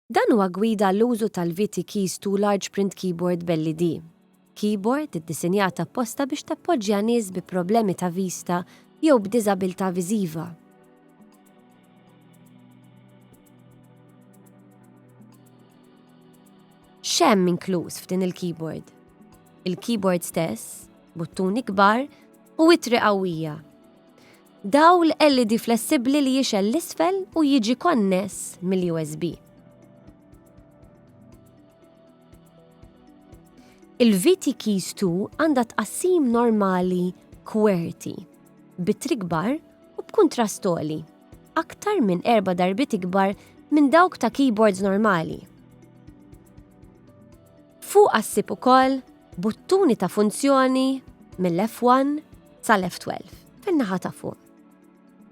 Dan huwa gwida għall-użu tal-VT Keys to Large Print Keyboard b'LED. Keyboard iddisinjat apposta biex tappoġġja nies bi problemi ta' vista jew b'diżabilità viżiva. X'hemm inkluż f'din il-keyboard? Il-keyboard stess, buttuni kbar u ittri qawwija. Dawl LED flessibbli li jixgħel l-isfel u jiġi konness mill-USB. Il-VT Keys 2 għandha tqassim normali kwerti, bitri ikbar u b'kuntrast għoli, aktar minn erba' darbiet ikbar minn dawk ta' keyboards normali. Fuqha ssib ukoll buttuni ta' funzjoni mill-F1 sal-F12 fin-naħa ta' fuq.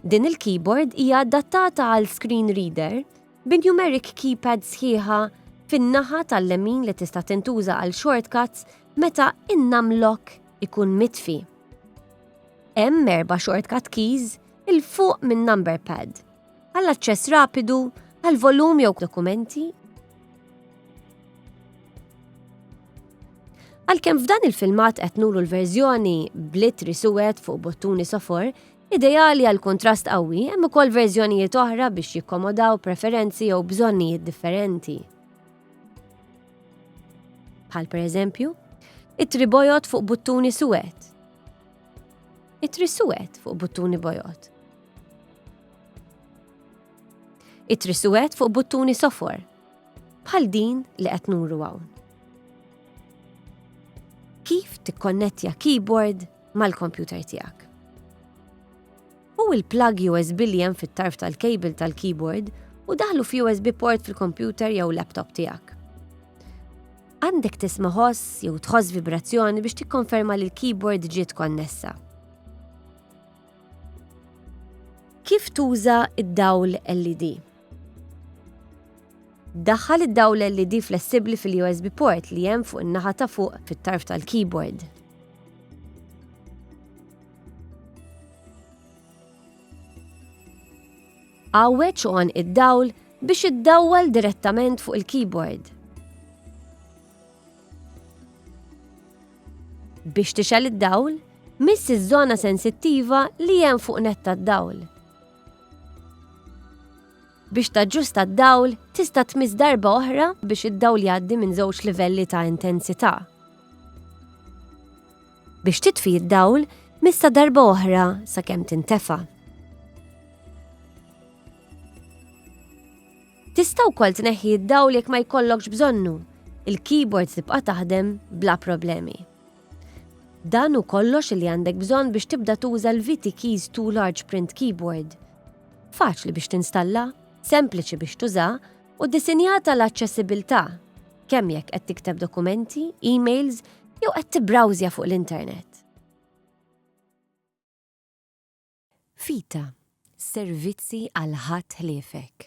Din il-keyboard hija adattata għal screen reader bi numeric keypad sħiħa fin-naħa tal-lemin li tista' tintuża għal shortcuts meta in-numlock ikun mitfi. Hemm erba' shortcut keys il fuq minn number pad għall aċċess rapidu għal volum jew dokumenti. Għalkemm f'dan il-filmat qed nuru l-verżjoni blit risuwet fuq bottuni sofor, ideali għal kontrast qawwi hemm ukoll verżjonijiet oħra biex jikkomodaw preferenzi jew bżonnijiet differenti. Bħal pereżempju, it-tribojot fuq buttuni suwed. It-trisuwed fuq buttuni bojot. Ittri suwed fuq buttuni sofor, bħal din li qed nuru hawn. Kif tikkonnettja keyboard mal-kompjuter tiegħek? U il-plug USB li hemm fit-tarf tal-kejbil tal-keyboard u daħlu fi USB port fil-kompjuter jew laptop tiegħek. Għandek tisma' ħoss jew tħoss vibrazzjoni biex tikkonferma li l-keyboard ġiet konnessa. Kif tuża id-dawl LED? Daħħal id-dawl LED flessibbli fil-USB port li hemm fuq in-naħa ta' fuq fit-tarf tal-keyboard. Għawweġ u id-dawl biex iddawwal direttament fuq il-keyboard. Biex tixel id-dawl, miss iż-żona sensittiva li hemm fuq net tad-dawl. Biex taġġusta d-dawl, tista' tmiss darba oħra biex id-dawl jgħaddi minn żewġ livelli ta' intensità. Biex titfi d-dawl, missa darba oħra sakemm tintefa'. Tista' wkoll tneħħi d-dawl jekk ma jkollokx bżonnu, il-keyboard tibqa' taħdem bla problemi. Dan hu kollox li għandek bżonn biex tibda tuża l-VT Keys 2 Large Print Keyboard. Faċli biex tinstalla, sempliċi biex tuża u disinjata l-aċċessibilità kemm jekk qed tikteb dokumenti, emails jew qed tibrawżja fuq l-internet. Vita, servizzi għal ħadd ħliefek.